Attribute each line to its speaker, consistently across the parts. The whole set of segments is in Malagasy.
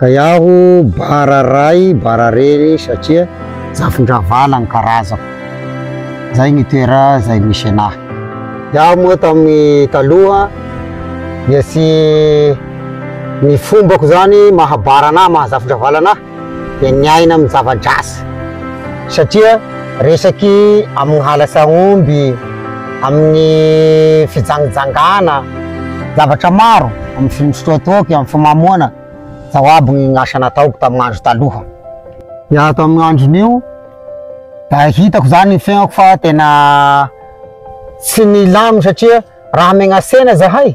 Speaker 1: Ka iaho bara ray bara reny satria zafin-dRavala ny karazako. Zay ny toera zay misy enahy. Iaho moa tamin'ny taloha dia tsy ny fombako zany maha bara anahy maha zafin-dRavala anahy dia ny aina amin'ny zava-drasa satria resaky amin'ny halatsahomby, amin'ny fijangijangana zavatra maro amin'ny finosotroatoky amin'ny fimamoana zao aby ny asa nataoko tamin'ny andro taloha dia ato amin'ny andron'io da hitako zany ny fiainako fa tena tsy nilamina satria raha megnasena zahay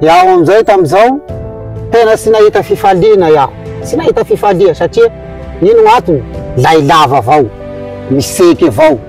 Speaker 1: Iaho amin'izay tamin'izao, tena tsy nahita fifaliana iaho. Tsy nahita fifaliana satria ino no antony? Lay lava avao, misaiky avao.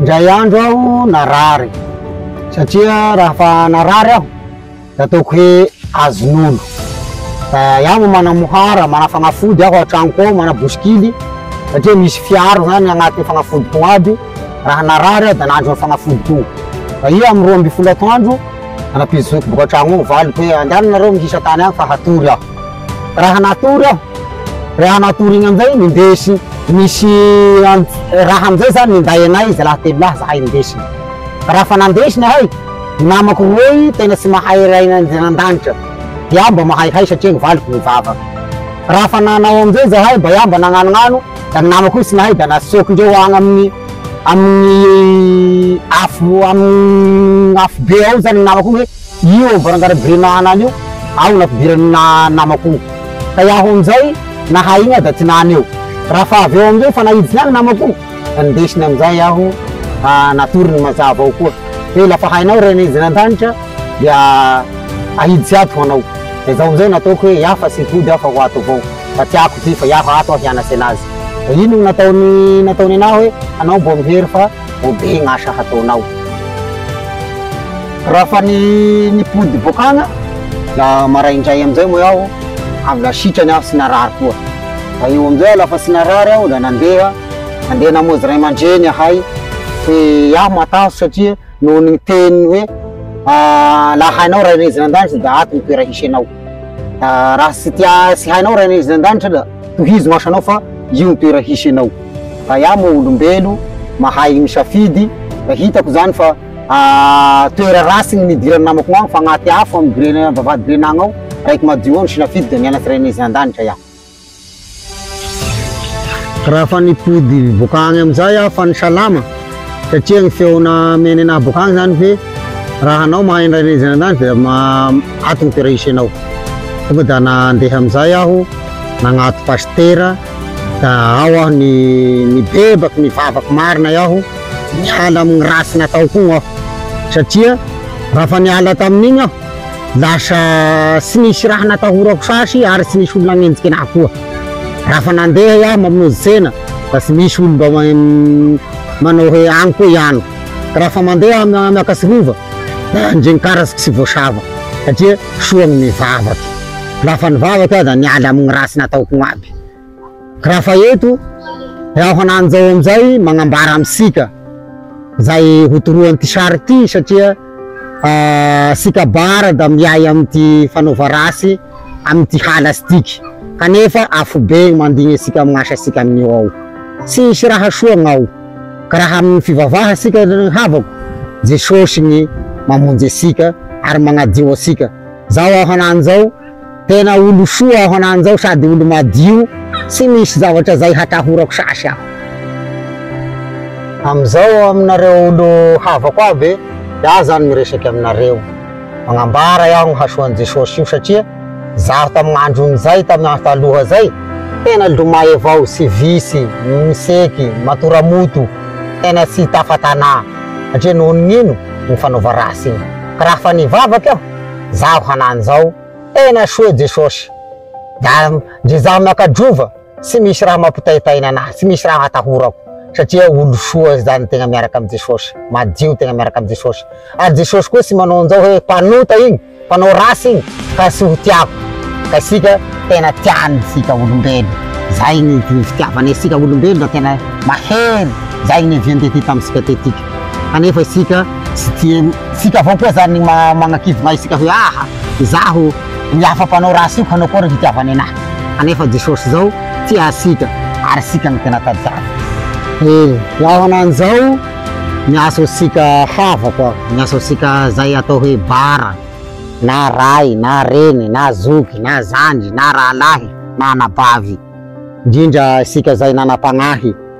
Speaker 1: Indray andro aho narary, satria raha fa narary aho de ataoko hoe azon'olo. Iaho no manamohara, manafanafody aho an-tranoko ao, manabosikily satria misy fiaro zany agnatin'ny fanafodiko aby, raha narary aho de nandry ny fanafodiko io. Fa io amin'ny roa ambin'ny folo atoandro, nanam-pijotsoako boaka an-tragno ao, valiko hoe andehananareo mihisa tany agny fa hatory aho. Raha natory aho, raha natory igny amizay nindesy nisy raha amizay zany ninday anay zalahy telo lahy zahay nindesiny. Raha fa nandesy nahay, i namako roy tena tsy mahay ray an'Andrianandanitra, iah mba mahay hay satria ny valiko nivavaka. Raha fa nanao amizay zahay mba iah mba nagnanognano da ny namako io tsy nahay da naseokindreo agny amin'ny amin'ny afo amin'ny afobe ao zany ny namako igny hoe. Io ao varangarany Birinahana any io aho nampidiran'ny namako io. Fa iaho amin'izay nahay iny aho dia tsy nany eo. Raha fa avy eo amin'izay efa naiditra ihany ny namako io dia nindesiny amin'izay aho ka natory ny mazava ao koa hoe la fa hainao Reny izy any an-danitra dia ahiditsy ato ho anao. Dia izao amin'izay no nataoko hoe iaho fa tsy hody aho fa ho ato avao fa tsy ako ity fa iaho ato aho hianasena azy. Dia iny no nataony nataony anah hoe anao mbo mihery fa vao be ny asa hataonao. Raha fa ny nipody bokana, la maraindray amin'izay moa aho avy la sitrany aho sy narary koa. La eo amin'izay aho la fa tsy narary aho la nandeha, nandeha namozy ray aman-dreny ahay sy aho matahotra satria noho ny teny hoe la hainao ray raisin'Andanitra da ato ny toera hisy anao. Raha tsy tia tsy hainao Ray an'izy an-danitra da tohizo maso anao fa io ny toera hisy anao. Fa iah moa olombelo mahay misafidy da hitako zany fa toera ratsy ny nidiran'ny namako agny fa agnaty afo amin'ny grenana vavahady grenana ao, raiky madio ao ny sinafidy da nianatry Ray an'izy an-danitra iah. Raha efa nipody boaka any amin'izay aho fa nisalama satria ny feona menena ahy boaka any izany hoe raha anao mahay indray nizina an'izany dia ato ny toerana hisenao. Tonga dia nandeha amin'izay aho nagnato pasitera da ao aho ny nibebaka nivavaka marina aho niala amin'ny ratsy nataoko igny aho satria raha efa niala tamin'igny aho Lasa tsy nisy raha natahorako sasy ary tsy nisy olona nanenjika anahy koa. Raha fa nandeha aho mamonjy tsena da tsy misy olona mba manao hoe any koa ihany. Ka raha fa mandeha aho miakatra tsy rova da ndrenkaratsiko tsy voasava satria soa ny vavako. Lafa nivavaka aho da niala amin'ny ratsy nataoko aby. Raha fa eto, dia aho ananjao amin'izay magnambara amintsika izay ho toroan'ity sary ity satria isika Bara dia miahy amin'ity fanaova ratsy amin'ity hala sy diky kanefa afobe ny mandigny antsika amin'ny asasika amin'io ao. Tsy hisy raha soa ny ao ka raha amin'ny fivavaha isika ry havako, Jesosy ny mamonjy antsika ary magnadio antsika. Izao aho ananjao. Tena olo soa aho anany zao sady olo madio tsy misy zavatra zay hatahorako sasy aho. Amizao aminareo olo havako aby de aho zany miresake aminareo magnambara aho ny hasoany Jesosy io satria zaho tamign andron zay tamy andro taloha zay tena lomay avao sy visy, miseky, matora moto, tena tsy tafa tanà satria nohon ino ny fanaova ratsy iny ka raha fa nivavaka aho zaho hanany zao tena soa Jesosy da ndry zaho miakadrova tsy misy raha mampitaitaina anahy tsy misy raha atahorako satria olo soa zany tegna miaraka am Jesosy madio tegna miaraka am Jesosy ary Jesosy koa tsy manao anzao hoe mpanota igny mpanao ratsy igny ka tsy ho tiako ka isika tena tiany tsika olombelo zay ny fitiavany tsika olombelo da tena mahery zay ny nivian tetika am tsika tetika. Kanefa isika tsy tia ny. Isika avao koa izany ny magnakivina isika hoe aha, izaho ny hafa mpanao raha asiko hanao akory ny hitiavany anahy. Kanefa Jesosy izao tia asika ary isika no tena tadiaviny. E, ho ahoana an'izao ny asaontsika havako a, ny asaontsika izay atao hoe bara, na ray, na reny, na zoky, na zandry, na rahalahy, na anabavy, indrindra isika izay nanam-pagnahy.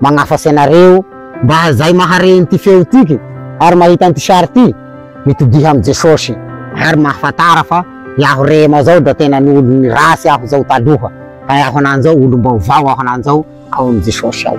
Speaker 1: magnafatsy anareo. Mba izay mahare ity feo ity ary mahita an'ity sary ity, mitodiha amin'i Jesosy. Ary mahafantara fa iaho Rema zao da tena ny olon'ny ratsy aho zao taloha, fa iaho anany zao olom-baovao aho anany zao ao amin'i Jesosy ao.